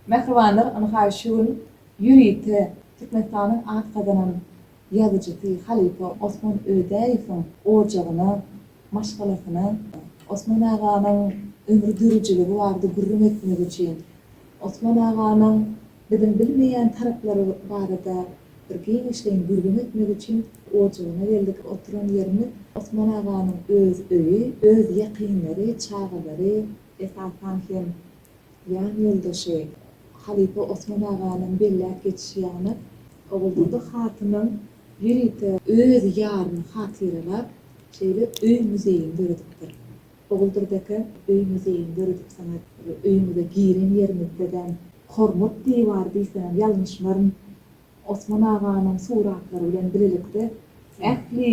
Mähribanlar ynha şu gün ýörite Türkmenistanyň at gazanan ýazyjysy, halypa Osman Ödäýewiň ojagyna, maşgalasyna, Osman aganyň ömri dörijiligi barada gürrüň etmek üçin, Osman aganyň biziň bilmeýän taraplary barada bir giňişleýin gürrüň etmek üçin ojagyna geldik. Oturan ýerimiz Osman aganyň öz öýi, öz ýakynlary, çagalary, esasan hem Jan ýoldaşy, halypa Osman aganyň belläp geçişi ýaly, Oguldyzly hatynyň ýörite öz ýaryny hatyralap, şeýle öý-muzeýini döredipdir. Oguldyz eke öý-muzeýini döredipsiňiz. Öýüňize giren ýeriňizde-dem Hormat diwary diýsem ýalňyşmaryn, Osman aganyň suratlary bilen bilelikde ähli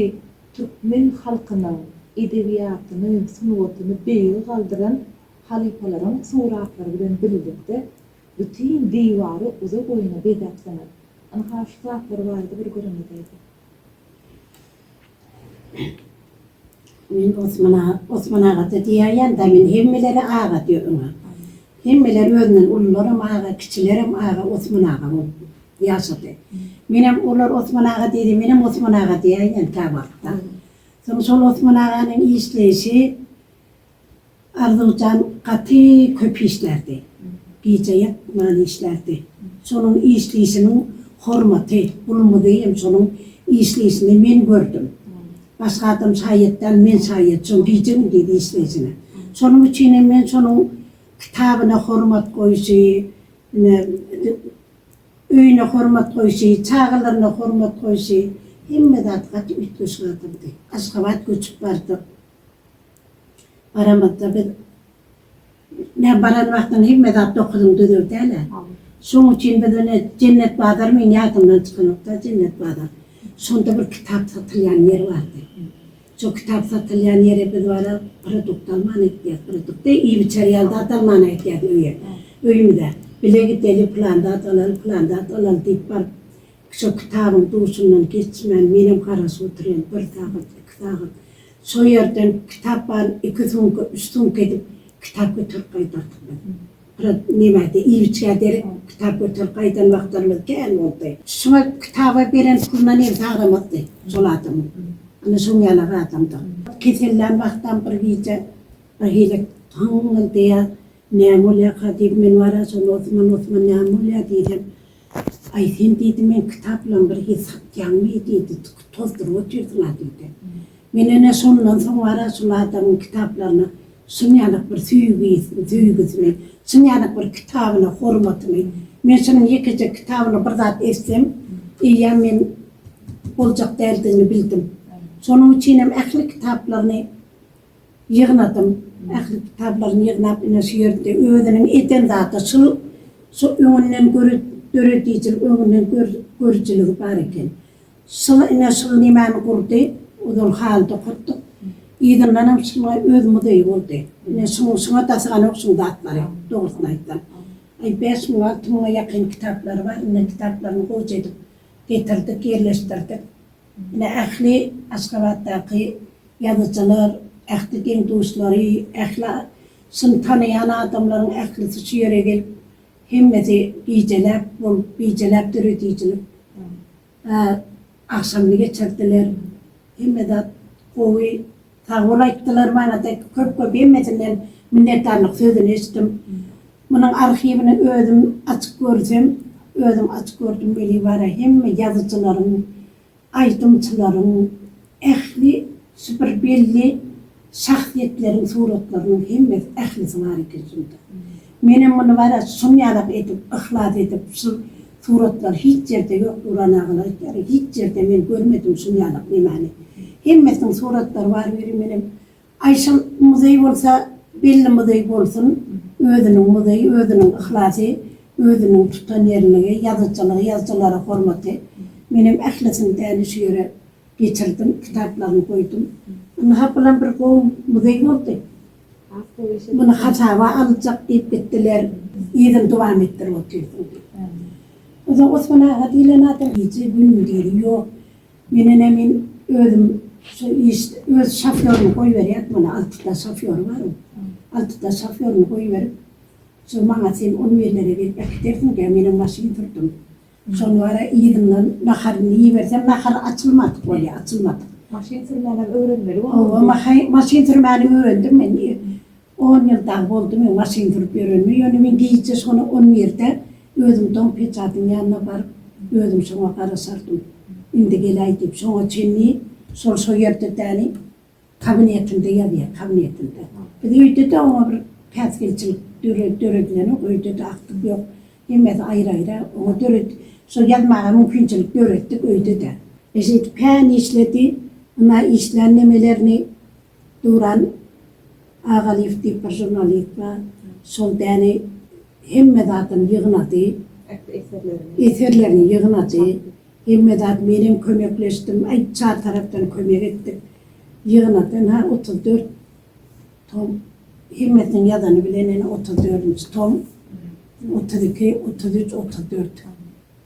türkmen halkynyň edebiýatyny, sungatyny beýige galdyran Halypalaryň suratlary bilen birlikde bütin diwary uza-boýuna bezäpsiňiz. Ynha, şu zatlar barada bir gürrüňizi aýdyň. Men Osman aga, Osman aga-da diýäýen da, men hemmelere aga diýerin. Hemmeler özünden ulularam aga, kiçilerem aga, Osman aga bolup ýaşady. Menem olar Osman aga diýdi, menem Osman aga diýäýen käwagt-da. Soň şol Osman aganyň işleýşi. Arzuwjan gaty köp işlärdi. Gije ýatman işlärdi. Şonuň işleýşiniň hormaty, gulumyzy hem şonuň işleýşini men gördüm. Başga adam şaýat däl, men şaýat şonuň gije-gündiz işleýşine. Şonuň üçin hem men şonuň kitabyna hormat goýşy, ine, öýüne hormat goýşy, çagalaryna hormat goýşy, hemme zat gaty üýtgeşik adamdy. Aşgabat göçüp bardyk. Baramadda biz Näm baran wagtyň hemme zat dokuzyň düzüldälä. Şoň üçin biz ine Jennet bazar meň ýadymdan çykanokda Jennet bazar. Şonda bir kitap satylýan ýer bardy. Şo kitap satylýan ýere biz baryp produkt alman gitýas. Produkty iýip-içer ýaly zat almana gitýas öýe. Öýümize. Bile gideli plan zat alaly, plan zat alaly diýip baryp. Şo kitabyň duşundan geçmän menem garaşyp otyryn, bir sagat, iki sagat. Şo ýerden kitap bar, iki sumka, üç sumka edip kitap göterip gaýdardyk biz. Biraz nebärde iýip-içgä derek kitap göterip gaýdan wagtlarymyz kän boldy. Şuňa kitaba beren puluna nebsi agramazdy şol adamyň. Ine şoň ýaly bir adamdy. Kesellän wagtam bir gije birhili hyňňyldaýar, näme bolýarka diýip, men wara şonda Osman, Osman näme bolýar diýsem, Aý, sen diýdi, meň kitap bilen bir hili satýaňmy diýdi, tozduryp otyrsyň-a diýdi. Men ene şondan soň bar-a şol adamyň kitaplaryna çyn ýanak bir söýgüsini, söýgüsini, çyn ýanak bir kitabyna hormatyny, men şunuň ýekeje kitabyna bir zat etsem, eýýäm men boljak däldigini bildim. Şonuň üçinem ähli kitaplaryny. Ýygnadym. Ähli kitaplaryny ýygnap ine şu ýerde özüniň eden zady şul şu öňünden gör döredijilik öňünden gör görüjiligi bar eken. Şul ine şul nämäni gurdy ozal haly dokartdyk. Yzyndanam şuňa öz muzeýi boldy. Ine şuň şuňa daşyganok şuň zatlary dogrusyny aýtsam. Aý bäş müň alty müňe ýakyn kitaplary bar ine kitaplaryny gowja edip getirdik ýerleşdirdik. Ine, ähli Aşgabatdaky ýazyjylar, ähli deň-duşlary, ähli şuny tanaýan adamlaryň ählisi şu ýere gelip, hemmesi gijeläp bolup, gijeläp döredijilik agşamyny geçirdiler. Hemme zat gowy. Sagbol aýtdylar mana dek köp köp hemmesinden minnetdarlyk sözüni eşitdim. Munuň arhiwini özüm açyp görsem özüm açyp gördüm weli bara hemme ýazyjylaryň aýdymçylaryň ähli şu bir belli şahsyýetleriň suratlarynyň hemmesi ählisi bar eken şunda. Menem muny bara şuny ýalak edip yhlas edip şu Suratlar hiç ýerde ýok Nuran agalar aýtýar hiç ýerde men görmedim şunýalyk nemäni hemmesiniň suratlary bar biri menem Aýşam muzeý bolsa belli muzeý bolsun özüniň muzeýi özüniň yhlasy özüniň tutan ýerligi ýazyjylygy ýazyjylara hormaty menem ählisini däli şu ýere getirdim kitaplaryny goýdum ynha bulam bir gowy muzeý boldy. Muny hasaba aljak diýip gitdiler. Yzyny dowam etdirip otyrsyň diýip. Onsoň Osman aga diýlen adam gije günmi diýdi. Ýok, men ene men özüm şu iş öz şofýorymy goýberýän muny altyda şofýory bar oň. Altyda şofýorymy goýberip, şu maňa sen on birlere gelip äkidersiň diýýär. Menem maşyn sürdüm. Şol wara yzyndan naharyny iýiberse, nahary açylmadyk bolýar, açylmadyk. Maşyn sürmänem öwrenmeli boldum. Hawa, mahy, maşyn sürmäni öwrendim men. On ýyl dagy boldy men maşyn sürüp ýörenime. Ýöne men gije şony on birde özüm dom peçatyň ýanyna baryp, özüm şoňa garaşardym. Indi geläý diýip, şoňa çenli şol şo ýerde däli Kabinetinde ýazýar, kabinetinde. Biz öýde-de oňa bir päsgelçilik döre, döredileniok, öýde-de akdyk ýok. Hemmesi aýry-aýra. Oňa döret, şo ýazmaga mümkinçilik döretdik öýde-de. E, şeýdip kän işledi. Ynha, işlän nemelerini Duran Agalyýew diýip bir žurnalist bar. Şol däne hemme zadyny ýygnady. Ähli eserlerini. Eserlerini ýygnady. Hemme zat menem kömekleşdim aýt çar tarapdan kömek etdik ýygnadan ha otuz dört tom hemmesiniň ýazany bilen ene otuz dördünji tom otuz iki otuz üç otuz dört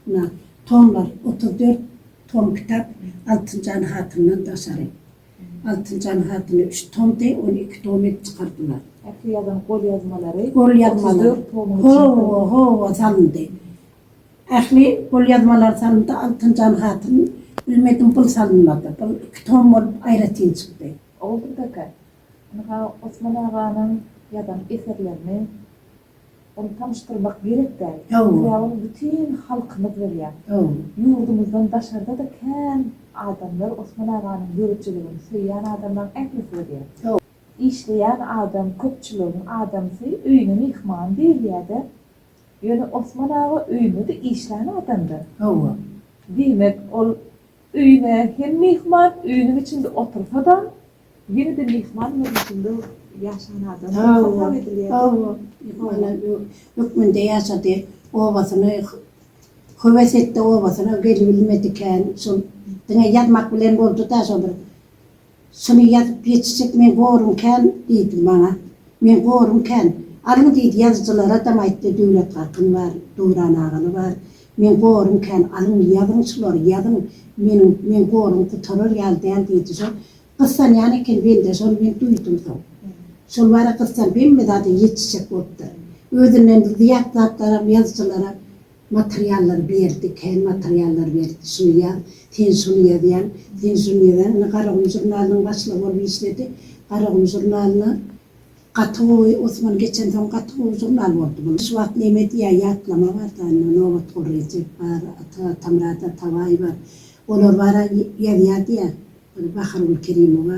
na tomlar otuz dört tom kitap altynjan hatyndan daşary altynjan hatyny üç tomdy ony iki tom edip çykardylar. Ähli ýazan golýazmalary otuz dört tomyň içine salyndy. Howa howa salyndy. Ähli golýazmalar salyndy, Altynjan hatyn, bilmedim bul salynmady. Bul iki tom bolup aýratyn çykdy. Oguldyr kaka, ynha Osman aganyň ýazan eserlerini ony tanyşdyrmak gerek-dä. Biz ýa ony bütin halkymyz bilýär. Ýurdumyzdan daşarda-da kän adamlar Osman aganyň ýörüjiligini söýýän adamlaryň ählisi bilýär. Işleýän adam, köpçüligiň adamsy, öýüne myhman diýilýär-dä. Ýöne Osman aga öýüne-de işlän adam-da. Hawa. Diýmek, ol öýüne hem myhman, öýüniň içinde otursa-da, ýene-de myhman görnüşinde ýaşan adam hasap edilýär. Hawa, myhmana hökmünde ýaşady. Obasyny höwes etdi, obasyna gelibilmedikä, şol diňe ýazmak bilen boldy-da, şo bir. Şuny ýazyp ýetişjek men gorun kän diýdi maňa. Men gorun kän. Alyň diýdi ýazyjylaradam aýtdy Döwlet Kakyn bar, Döwran agaly bar. Men gorun kän. Alyň ýazyň şulary ýazyň. Meniň men gorun gutarar ýaly däl diýdi şol. Gyssanýan eken bende şony men duýdum soň. Şol bara gyssan hemme zada ýetişjek bolupdyr. Özünden zyýat zatlaram ýazyjylara Materiallar berdi, kän materiallar berdi. Şuny ýaz, sen şuny ýazýaň, sen şuny ýazýaň. Indi Garagum žurnalynyň başlygy bolup işledi. Garagum žurnalyna gaty gowy, Osman geçensoň gaty gowy žurnal boldy bu. Şu wagt neme diýýär, ýatlama bar da, indi Nobatguly Rejep bar, Ata Atamyrat Atabaý bar. Olar bara ýazýar diýýär. Bahargül Kerimowa,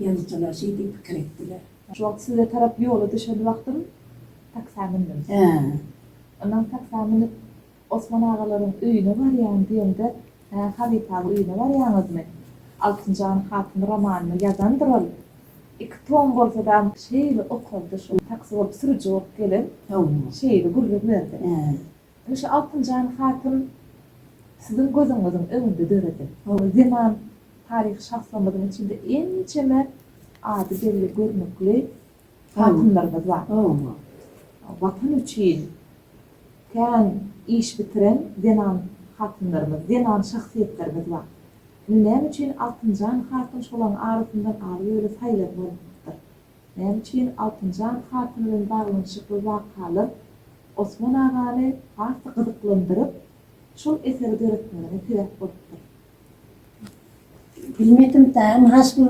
Ýazyjylar şeý diýip pikir etdiler. Şu wagt size tarap ýola düşen wagtym taksa mündüm. Ondan taksa münüp Osman agalaryň öýüne barýan diýemde, Hä, Halypa aga öýüne barýaňyzmy? Altynjan hatyn romanyny ýazandyr ol. Iki tom bolsa-da şeýle okaldy, şol taksy bolup sürüji bolup gelen şeýle gürrüň berdi. Ine şu Altynjan hatyn siziň gözüňiziň öňünde döredi. Hawa zenan taryhy şahslarymyzyň içinde ençeme ady belli görnükli hatynlarymyz bar. Watan üçin kän iş bitiren zenan hatynlarymyz, zenan şahsyýetlerimiz bar. Indi näme üçin Altynjan hatyn şolaryň arasyndan alyp öýle saýlanmalydyr. Näme üçin Altynjan hatyn bilen baglanyşykly wakalar Osman agany has-da gyzyklandyryp, şol eseri döretmegine sebäp bolupdyr? Bilmedim däl, munha şu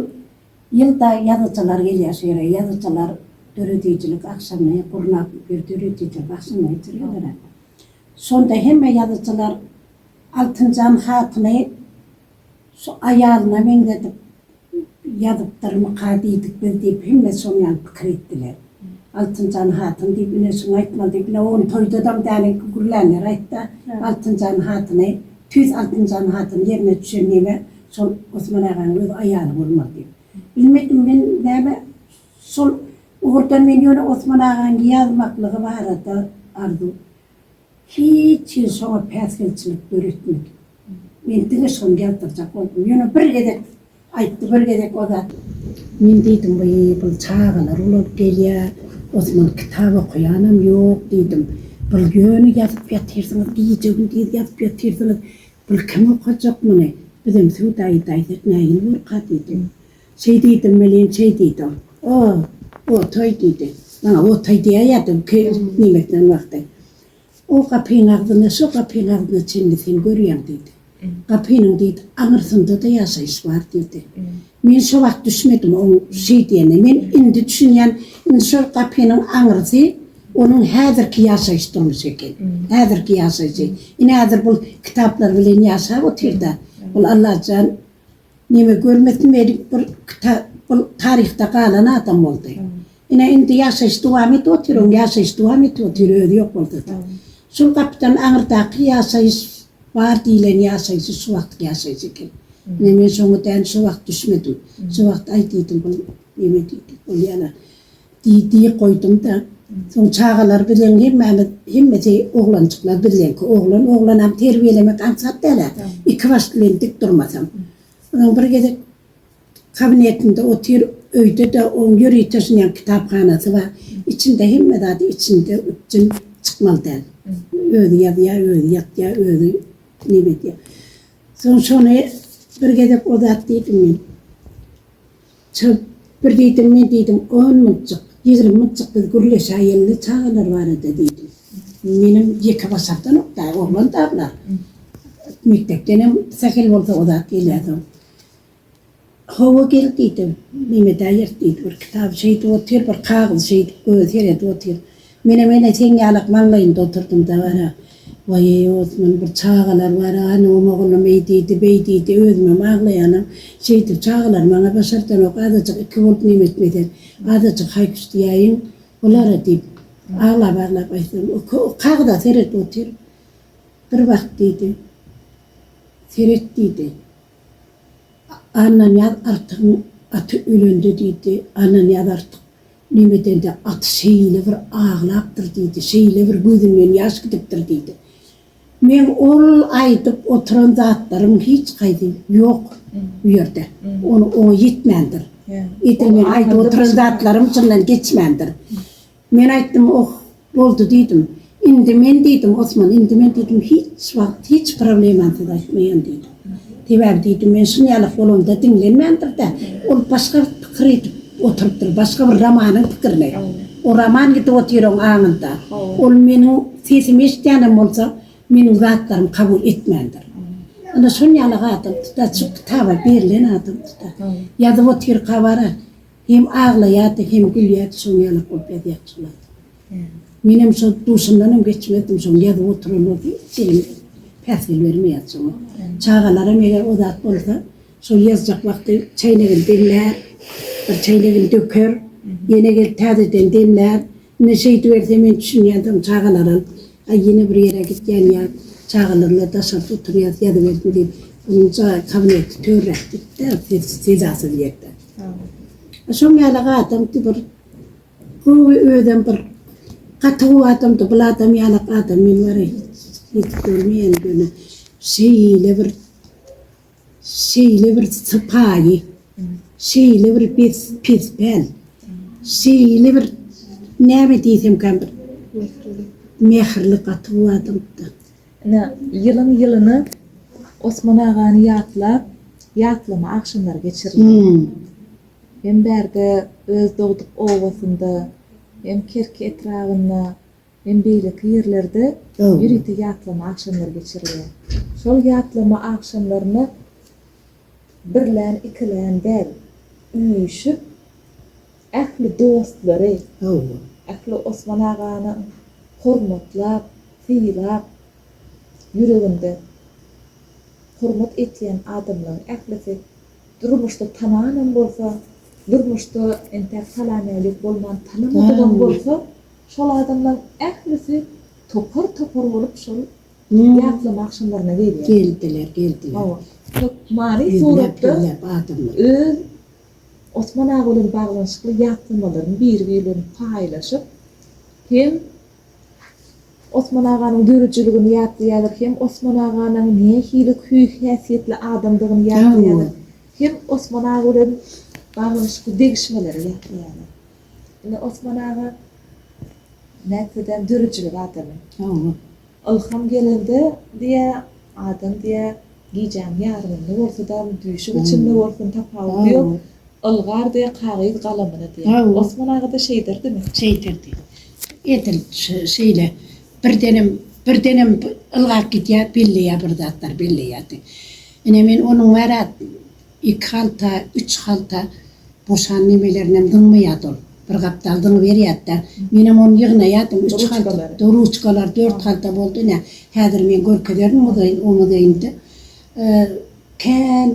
ýylda ýazyjylar gelýär şu ýere, ýazyjylar döredijilik agşamy gurnap, bir döredijilik agşamy geçirýärler-ä. Şonda hemme ýazyjylar Altynjan hatyny şu aýalyna meňzedip, Ýazypdyrmyka diýdik biz diýip, hemme şoň ýaly pikir etdiler. Altynjan hatyn diýip ine şuny aýtmaly diýip, ine ony toýdadam däl enki gürlänler aýtdy. Altynjan hatyny, tüýs Altynjan hatyn ýerine düşen neme, şol Osman aganyň öz aýaly bolmaly diýip. Bilmedim men näme şol ugurdan men ýöne Osman agaň ýazmaklygy barada arzuw Hiç ýeri şoňa päsgelçilik döretmedi. Men diňe şony ýazdyrjak boldum. Ýöne bir gezek aýtdy, bir gezek o zat. Men diýdim, Wii, bul çagalar bolup gelýä, Osman kitap okaýanam ýok diýdim. Bul ýöne ýazyp ýatyrsyňyz, gije-gündiz ýazyp ýatyrsyňyz. Bul kim okajak muny? Bizem Sudaýy daýza nägile borka diýdim. Şeý diýdim welin, şeý diýdim. O-o, otaý diýdi. Maňa otaý diýäýerdi bu ke nemesiniň wagty. O gapyň agzynda, şo gapyň agzynda çenli sen görýäň diýdi. Gapynyň diýdi, aňyrsynda-da ýaşaýyş bar diýdi. Men şo wagt düşmedim oň şeý diýenine. Men indi düşünýän, indi şol gapynyň aňyrsy onuň häzirki ýaşaýyş durmuşy eken. Häzirki ýaşaýşy. Ine, häzir bul kitaplar bilen ýaşap otyr-da. Bul Allajan. Neme görmesin weli bir kitap taryhda galan adam boldy. Ine indi ýaşaýyş dowam edip otyr oň ýaşaýyş dowam edip otyr özi ýok bolsada. Şul gapydan aňyrdaky ýaşaýyş bar diýlen ýaşaýşy şu wagtky ýaşaýyş eken. Ine men şoňa däl şu wagt düşmedim. Şu wagt aý diýdim bul neme diýdi bul ýalan. Diýdi, goýdum-da. Soň çagalar bilen hemmämiz, hemmesi oglanjyklar bizleňki. Oglan oglanam terbiýelemek aňsat däl-ä, iki baş bilen dik durmasaň. Onuň bir gezek kabinetinde otyr, öýde-de oň ýörite şunyň kitaphanasy bar. Içinde hemme zady içinde, üpjün, çykmaly däl. Özi ýazýar, özi ýatýar, özi neme edýär. Soň şony bir gezek o zat diýdim men. Çal, bir diýdim, men diýdim, on muljyk, ýigrimi muljyk biz gürleşäýeli-le çagalar barada diýdim. Menem ýeke başardanok-da, oglan-da bular. Mekdepdenem sähel bolsa o zat gelýärsoň. Hawa gel diýdim. Mehmet äý ýert diýdi, bir kitaby şeýdip otyr, bir kagyzy şeýdip gözi seredip otyr. Menem ene seň ýalak maňlaýynda oturdym-da gara. Waý-eý, Osman, bir çagalar bar-a, hanymam oglum eý diýdi, beý diýdi, özümem aglaýanam. Şeýdip, çagalar maňa başardanok, azajyk iki bolup neme etmesen, azajyk haý-küş diýäýiň bulara diýip, aglap-aglap aýtsam, o kagyza seredip otyr. Bir bak diýdi. Seret diýdi. Annanyýaz artygyň aty ölendi diýdi. Annanyýaz artyk Nemedende at şeýle bir aglapdyr diýdi, şeýle bir gözünden ýaş gidipdir diýdi. Meň ol aýdyp oturan zatlarym hiç haýsy ýok bu ýerde. Ony oňa ýetmändir. Edil meň aýdyp oturan zatlarym çyndan geçmändir. Men aýtdym, Oh, Boldy diýdim. Indi men diýdim, Osman, indi men diýdim, hiç wagt hiç problemansyz aýtmaýan diýdim. Sebäbi diýdim, men şunýalak bolamda diňlenmändir-de, ol başga bir pikir edip oturypdyr, başga bir romanyň pikirini. O roman gidip otyr oň aňynda. Ol meniň sesimi eşidýänem bolsa, meniň zatlarymy kabul etmändir. Ine, şunýalak adam tuta, şu kitaba berlen adam tuta. Ýazyp otyr habary. Hem aglaýardy hem gülýärdi şoň ýalak bolup ýazýardy şol adam. Menem şo duşundanam geçmezdim şoň ýazyp oturan bolsam hiç elim päsgel bermeýärdi şoňa. Çagalaram eger o zat bolsa şol ýazjak wagty çäýnegini demlär, bir çäýnegini döker, ýene gelip täzeden demlär. Ine şeýdiberse men düşünýändigim çagalaram aý ýene bir ýere gitýän ýa çagalarymyz daşarda oturýas ýazybersin diýip onuň jaý kabineti törräk gitdi-de sessiz sedasyz ýerde. A şoň ýaly adamdy bir gowy özem bir gaty gowy adamdy bul adam ýaly adam men wara hiç hiç görmeýän ýöne şeýle bir Şeýle bir sypaýy, şeýle bir pespel, şeýle bir näme diýsemkäm bir mähirli gaty gowy adamdy. Ine, ýylyň-ýylyna Osman agany ýatlap, ýatlama agşamlary geçirilýär. Hem bärde öz dogduk obasynda, hem Kerki etrabynda. Hem beýleki ýerlerde ýörite ýatlama agşamlary geçirilýär. Şol ýatlama agşamlaryna birlän-ikilän däl, üýşüp, ähli dostlary, ähli Osman agany hormatlap, sylap, ýüreginde hormat etýän adamlaryň ählisi durmuşda tananam bolsa, durmuşda entäk salam-älik bolman tanamadygam bolsa, Şol adamlaryň ählisi topar-topar bolup şol ýatlama agşamlaryna gelýär. Geldiler, geldiler. Hawa. Hökmany suratda öz Osman aga bilen baglanyşykly ýatlamalaryny biri-biri bilen paýlaşyp, hem Osman aganyň döredijiligini ýatlaýarlar, hem Osman aganyň nähili hüý-häsiýetli adamdygyny ýatlaýarlar, hem Osman aga bilen baglanyşykly degişmeleri ýatlaýarlar. Ine Osman aga nätsedeem dörüjilik adamy. Hawa. Ylham gelende diýä adam diýä gijäň ýarymynda bolsadam düýşüň içinde bolsun tapawudy ýok ylgar diýä kagyz galamyna diýä. Osman agada şeýdirdimi? Şeýdirdi. Edil şeýle birdenem birdenem ylgap gidýä belleýä bir zatlar belleýärdi. Ine men onuň bärä Iki halta, üç halta boşan nemelerini zyňmaýardy ol. Bir gapdal zyňyberýärdi-de, menem ony ýygnaýardym, üç halta, ruçkalary dört halta boldy ine, häzir men görkezerin muzeýin, o muzeýinde kän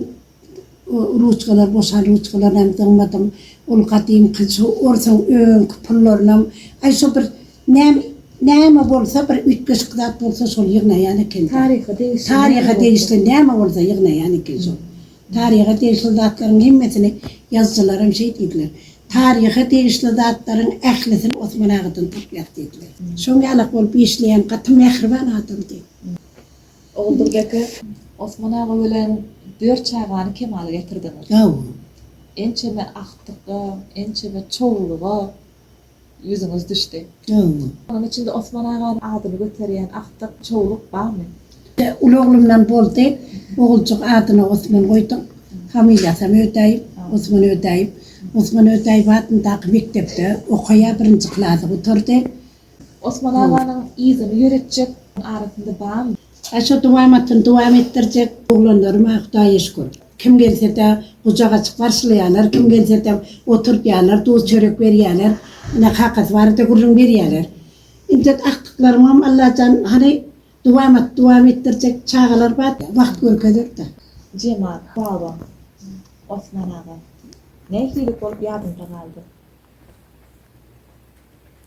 ruçkalar, boşan ruçkalarynam zyňmadym. Ol gadymky şu orsuň öňki pullarynam, aý, şu bir Näme, näme bolsa bir üýtgeşik zat bolsa şol ýygnaýan eken. Taryha degişli. Taryha degişli näme bolsa ýygnaýan eken şol. Taryha degişli zatlaryň hemmesini ýazyjylaram şeý diýdiler. Taryha degişli zatlaryň ählisini Osman agadan tapýas diýdiler. Şoň ýalak bolup işleýän gaty mähriban adamdy. Oguldury eke, Osman aga bilen dört çagany kemala getirdiňiz. Hawa. Ençeme agtykda, ençeme çowluga. ýüzüňiz düşdi. Öňe. Onuň içinde Osman aganyň adyny göterýän agtyk, çowluk barmy? Uly oglumdan boldy. Oguljyk adyna Osman goýduk. Familiýasam Ödäýew, Osman Ödäýew. Osman Ödäýew adyndaky mekdepde okaýar, birinji klasy gutardy. Osman aganyň yzyny ýöretjek arasynda barmy? Aşa dowamatyny dowam etdirjek oglanlaryma Hudaýa şükür. Kim gelse-de gujak açyp garşylaýarlar, kim gelse-de oturtýarlar, duz-çörek berýärler. Ine, kakasy barada gürrüň berýärler. Indi agtyklarymam Allajan hany dowamaty dowam etdirjek çagalar bar, wagt görkezer-de. Jemal baba, Osman aga nähili bolup ýadymda galdy.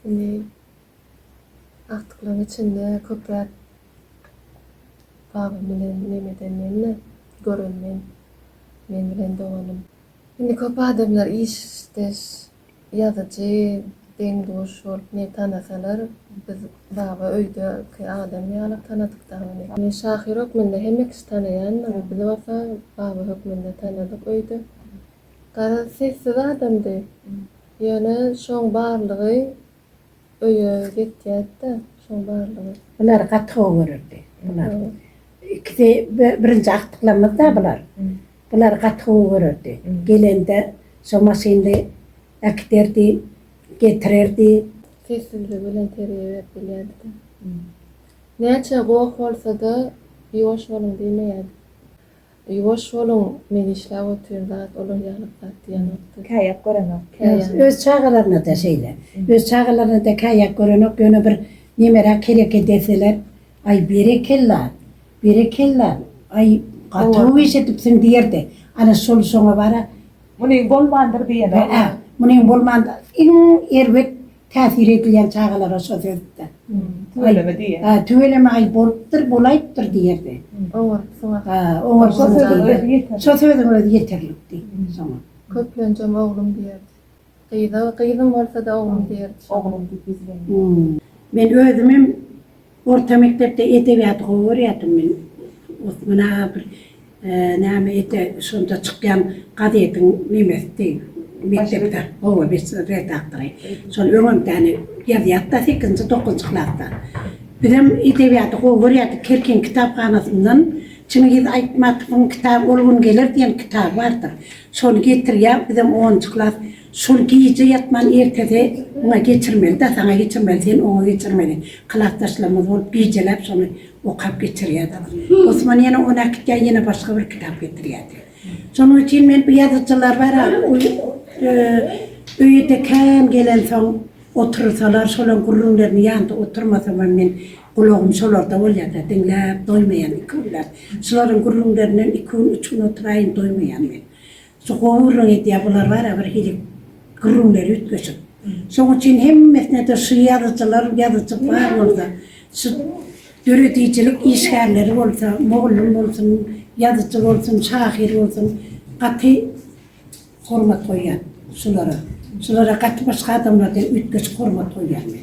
Indi. Agtyklygyň içinde köp zat babam bilen neme edenden-de gören men, men bilen doganym. Indi köp adamlar işdeş ýazyjy, deň-duş bolup meni tanasalar, biz baba öýdeki adam ýaly tanadyk dagy ony. Men şahyr hökmünde hemme kişi tanaýandyr, bizi bolsa baba hökmünde tanadyk öýde. Garaz, sessiz adamdy. Ýöne şoň barlygy Öýe getyäýtdä şoň barlygy. Bular gaty gowy görerdi bular ikisi birinji agtyklammyzda bular bular gaty gowy görerdi gelende şo maşynly äkiderdi getirerdi. Sessizligi bilen terbiýe berip bilýärdida. Näçe goh bolsada ýuwaş boluň diýmeýärdi. Ýuwaş boluň men işläp otyryn zat olar ýaly zat diýenokda. Käýäp görenok. Käýäp. Öz çagalarynada şeýle. Öz çagalarynada käýäp görenok ýöne bir nemeräk hereket edeseler aý berekella berekella aý gaty iş edipsiň diýerdi ana şol şoňa bara munyň bolmandyr diýen. Hää munyň bolmandyr iň erbet Täsir edilýän çagalara şo sözde. Tüweleme diýýär. Hä, tüweleme, aý, bolupdyr, bolaýypdyr diýerdi. Oňartsyň ahy. Hä, oňarsyň diýdi. Şo sözüň özi ýeterlikdi şoňa. Köplenjem oglum diýerdi. Gyza gyzym bolsa-da oglum diýerdi. Oglum diýip ýüzlenýär. Men özümem. Orta mekdepde edebiýaty gowy görýärdim men. Osman aga bir näme ete şonda çykýan gazetiň nemesidi mekdepde gowy bir redaktory. Şol öňemdäni ýazýardy-da sekizinji, dokuzynjy klasda. Bizem edebiýaty gowy görýärdik. Kerkiň kitaphanasyndan Çingiz Aýtmatowyň kitaby Ol gün geler diýen kitaby bardyr. Şony getirýär, bizem onunjy klas. Şol gije ýatman ertesi oňa geçirmeli da saňa geçirmeli sen oňa geçirmeli klasdaşlarymyz bolup gijeläp şony okap geçirýädik. Osman ýene ony äkitýä ýene başga bir kitap getirýädi. Şonuň üçin men bu ýazyjylar bara öýüde kän gelensoň otursalar şolan gürrüňlerini ýanda oturmasam hem men gulagym şolarda bolýada diňläp doýmaýan iki günläp şularyň gürrüňlerinden iki gün üç gün oturaýyn doýmaýan men. Şu gowurlyk edýär bular bara bir hili gürrüňleri üýtgeşik. Şoň üçin hemmesine-de şu ýazyjylar, ýazyjy bar bolsa, şu döredijilik işgärleri bolsa, mugallym bolsun, ýazyjy bolsun, şahyr bolsun, gaty hormat goýýan şulara. Şulara gaty başga adamlardan üýtgeşik hormat goýýan men.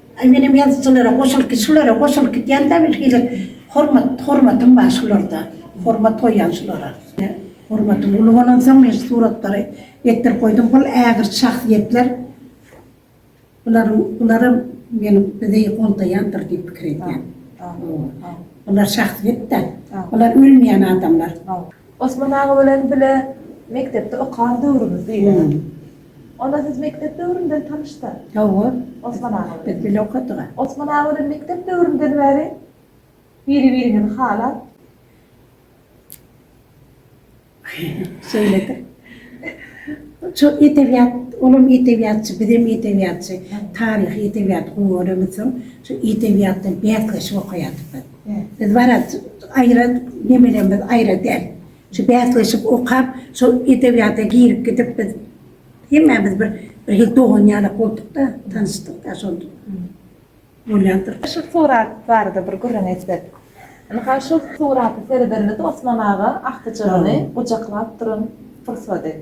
Aý menem ýazyjylara goşulyp şulara goşulyp gidýända birhili hormat hormatym bar şularda hormat goýýan şulara. Hormatym uly bolansoň men şu suratlary etdirip goýdum bul ägirt şahsyýetler bular bularam meniň bizi goldaýandyr diýip pikir edýän bular şahsyýetda bular ölmeýän adamlar. Osman aga bilen bile mekdepde okan döwrümizdi. Onda siz mekdep döwründen tanyşda? Hawa. Osman aga bilen. Biz bile okadyga. Osman aga bilen mekdep döwründen bäri biri-biriňizi halap. Şeýledir. Şu edebiýat, olam edebiýatçy, bizem edebiýatçy. Taryhy edebiýaty gowy göremiz soň, şu edebiýatdan bäsleşip okaýardyk biz. Biz barat aýra nemelerimiz aýra däl. Şu bäsleşik okap, şol edebiýata girip gidip biz hemmämiz bir bir hil dogan ýalak bolduk-da, tanyşdyk-da şol bolýandyr. Şu surat barada bir gürrüň etsek. Indi ha şu surata seredenimizde Osman aga agtyjagyny gujaklap duran pursady.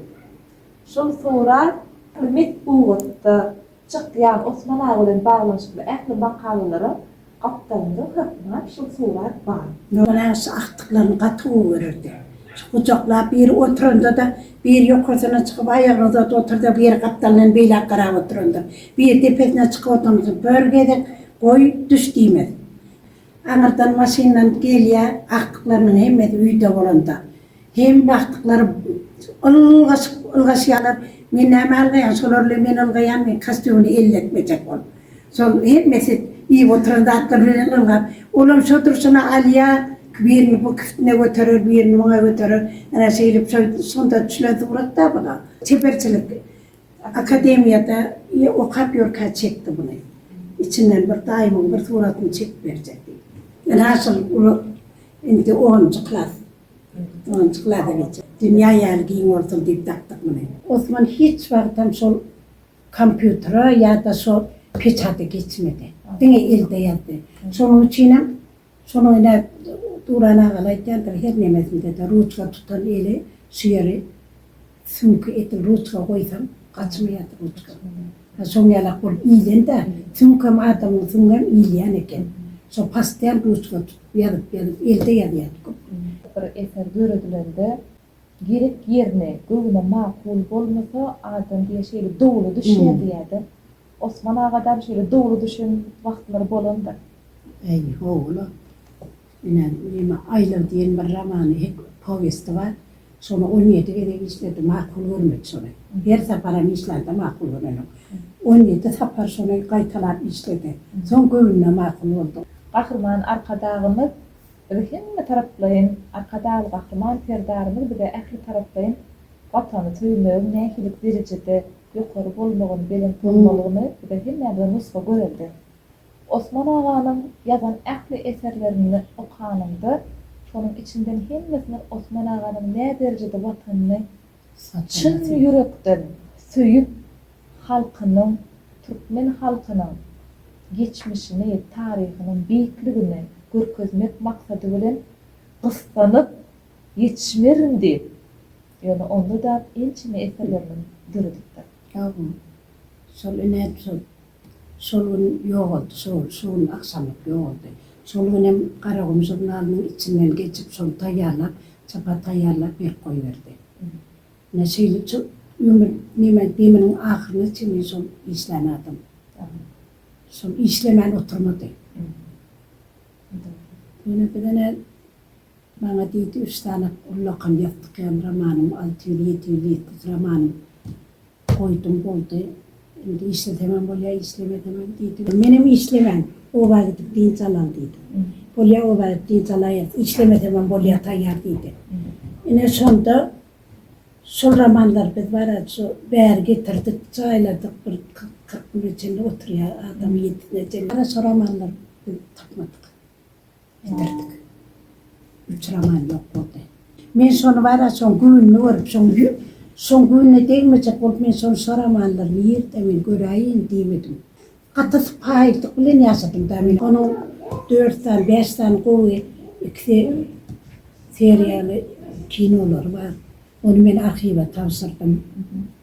Şol surat bir mesbugatda. Çykýan Osman aga bilen baglanyşykly ähli makalalara gapdalynda hökman şul surat bar. Nurman aga şu agtyklaryny gaty gowy görerdi. Şu gujaklap biri oturanda-da, biri ýokarsyna çykyp aýagyny uzadyp oturanda, biri gapdalyndan beýläk garap oturanda, biri depesine çykyp oturanda bir gezek goý, düş diýmez. Aňyrdan maşynlanyp gelýä agtyklarynyň hemmesi öýde bolanda. Hem agtyklary ylgaşyp ylgaşýalar. Men näme ylgaýan şolar bilen men ylgaýan men kostýumyny elletmejek ol. Şol hemmesi iýip oturan zatlary bilen ylgap. Olam şo durşuna alýa birini bu kiftine göterer birini muňa göterer. Ana şeýlip şo şonda düşlen suratda bula. Çeperçilik Akademiýada okap ýörkä çekdi buny. Içinden bir daýymyň bir suratyny çekip berjek diýip. Ýöne asyl uly indi onunjy klas. Onunjy klasa geçjek. Dünýä ýaly giň bolsun diýip dakdyk muny. Osman hiç wagtam şol kompýutere ýa-da şo peçata geçmedi. Diňe elde ýazdy. Şonuň üçinem. Şony oýnap Duran agaly aýtýandyr, her nemesinde-de ruçka tutan eli şu ýeri süňki edil ruçka goýsaň gaçmaýar ruçka. Ha şoň ýalak bolup iýlen-dä, süňkem adamyň süňňem iýilýän eken. Şo pastian ruçka tutup ýazyp ýazyp elde ýazýardy köp. Bir eser döredilende Gerek ýerine, göwne makul bolmasa, adam diýýär şeýle dowly düşýär diýýär-de. Osman agadam şeýle dowly düşen wagtlary bolandyr. Äý, ho-o-la. Ine, neme, Aýlag diýen bir romany, hek, powesti bar. Şony on ýedi gezek işledi, makul görmedi şony. Her saparam işlände makul görenok. On ýedi sapar şony gaýtalap işledi. Soň göwnüne makul boldy. Gahryman Arkadagymyz Biz hemme taraplaýyn Arkadagly Gahryman Serdarymyz bize ähli taraplaýyn Watany söýmegiň nähili derejede ýokary bolmagyny, belent bolmalygyny bize hemmämize nusga görelde. Osman aganyň ýazan ähli eserlerini okanyňda şonuň içinden hemmesiniň Osman aganyň nä derejede Watanyny Çyn ýürekden söýüp halkynyň türkmen halkynyň geçmişini taryhynyň beýikligini görkezmek maksady bilen gyssanyp ýetişmerin diýip ýöne onda dap ençeme eserlerimiz döredipdir. Sagol. Şol inem şol Şol gün ýogaldy, şo, şo gün agşamlyk ýogaldy. Şol günem Garagum žurnalynyň içinden geçip, şony taýýarlap, çapa taýýarlap berip goýberdi. Ine, şeýle ço, ömür, neme, deminiň ahyryna çenli şol işlän adam. Şol işlemän oturmady. Ýöne birdenä maňa diýdi, üç sany ullakan ýazdyk ýaly romanym, alty ýüz, ýedi ýüz ýetmiş romanym Goýdum boldy. Indi işleseňem bolýar, işlemeseňem diýdi. Menem işlemän, oba gidip dynç alaly diýdim. Bolýar, oba gidip dynç alaýerys, işlemesemem bolýar taýýar diýdi. Ine, şonda şol romanlary biz barada şu bäri getirdik, jaýladyk, bir kyrk güne çenli oturýar adam ýetine çenli. Şo romanlary biz tapmadyk. Ederdik. Uçraman ýok boldy. Men şony bar-a şoň gününi görüp, şoň şoň gününe degmejek bolup men şony soramanlar nirde men göräýin diýmedim. Gaty sypaýylyk bilen ýaşadym-da men. Onuň dört sany, bäş sany gowy ikisi seriýaly kinolary bar. Ony men arhiwe tabşyrdym.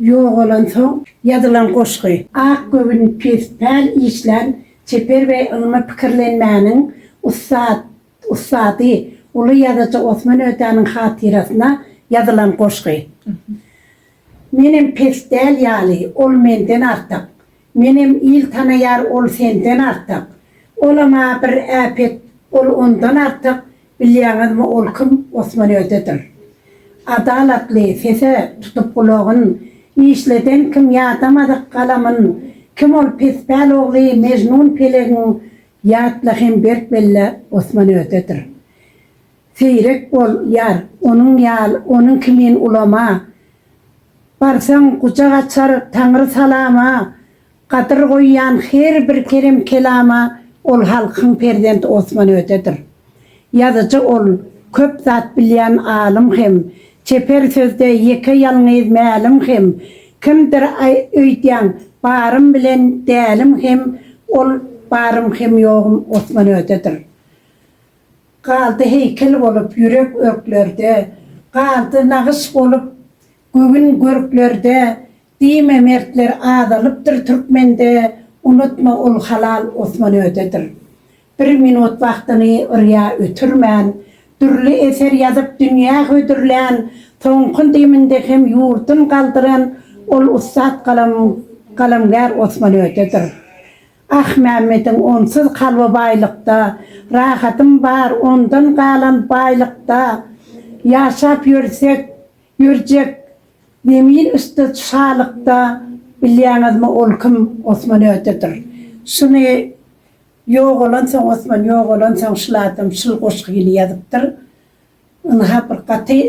Ýogalansoň ýazylan goşgy. Ak göwün pes päl işlän çeper we ylmy pikirlenmäniň ussat ussady, uly ýazyjy Osman Ötäniň hatyrasyna ýazylan goşgy. Menem pes däl ýaly, ol menden artyk. Menem il tanaýar ol senden artyk olama bir äpet ol ondan artyk bilýaňizmi ol kim Osman özidir adalatly sese tutup gulagyn işleden kim ýadamadyk galamyn kim ol pespäl ogly Mejnun pelegiň ýatla hem berk belle Osman özidir. Seýrek bol, ýar, onuň ýal, onuň kimin ulama. Barsaň, gujak açar Taňry salama, Gadyr goýýan her bir kerem-kelama Ol halkyň perzent Osman Ödedir. Ýazyjy ol, köp zat bilýän alym hem, Çeper sözde ýeke ýalňyz mälim hem, Kimdir öýdýäň, barym bilen dälim hem, Ol, barym hem ýogum Osman Ödedir. Galdy heýkel bolup ýürek örklerde, Galdy nagyş bolup göwün görklerde, Diýme mertler azalypdyr türkmende, Unutma ol halal Osman ödedir. Bir minut wagtyny yrýa ötürmän, Dürli eser ýazyp dünýä hödürlän, Soňky deminde hem ýurdun galdyran, Ol ussat galam galamgär Osman ödedir. Ahmämmediň onsuz kalby baýlykda, Rahatym bar ondan galan baýlykda. Ýaşap ýörsek, ýörjek Zemin üsti şalykda. Bilýäňizmi ol kim? Osman ötedir. Şuny ýogalansoň, Osman ýogalansoň şul adam şul goşgy ýyly ýazypdyr. Ynha bir gaty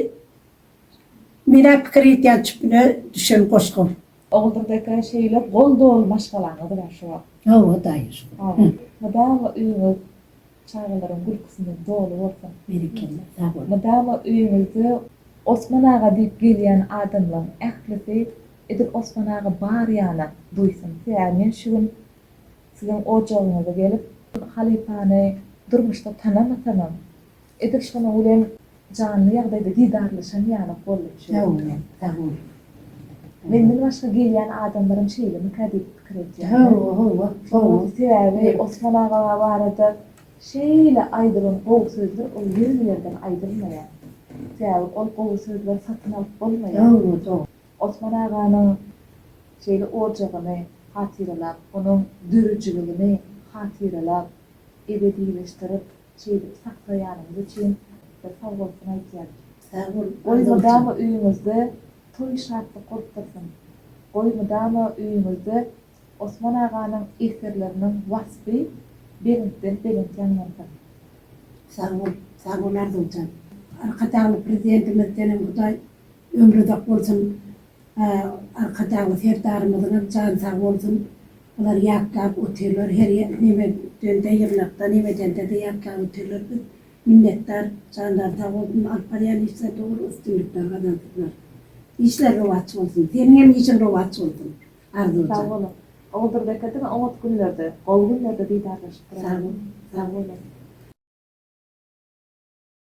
Menä pikir etýän tüpüne düşen goşga. Oguldyrdaka şeýle gol doly maşgalaňyz bar şu wagt. Hawa daýy şu wagt. Mydama öýüňiz çagalaryň gülküsine doly bolsun. Berekella sag bol. Mydama öýüňizde Osman aga diýip gelýän adamlaň ählisi edil Osman aga bar ýana duýsun. Sebäbi men şu gün siziň ojagyňyza gelip halypany durmuşda tanamasamam Edil şonuň bilen janly ýagdaýda didarlaşan ýalyk boldum şu gün. Sag bol, sag bol. Menden başga gelýän adamlaram şeýlemikä diýip pikir edýän. Hawa, hawa, hawa. Sebäbi Osman aga barada şeýle aýdylan gowy sözler ol ýöne ýerden aýdylmaýar. Sebäbi ol gowy sözler satyn alyp bolmaýar. Hawa, dogry. Osman aganyň şeýle ojagyny hatyralap, onuň döredijiligini hatyralap, ebedileşdirip, Çeýdip saklaýanyňyz üçin bir sogolsun aýtýan. Sag bol. Goý mydama öýüňizde toý şatlyk bolup dursun. Goý mydama öýüňizde Osman aganyň eserleriniň waspy belentden belent ýaňlansyn. Sag bol. Sag bol Arzuwjan. Arkadagly Prezidentimiz senem Hudaý Ömri uzak bolsun Arkadag Serdarymyzyňam jany sag bolsun bular ýatlap otyrlar her neme dende ýygnakda neme dendede ýatlap otyrlar biz minnetdar janlary sag bolsun alyp barýan işlerinde uly üstünlikler gazansynlar işleri rowaç bolsun seniňem işiň rowaç bolsun Arzuwjan. Sag boluň. Oguldurbekge diňe oňat günlerde, gowy günlerde didarlaşyp duralım. Sag boluň.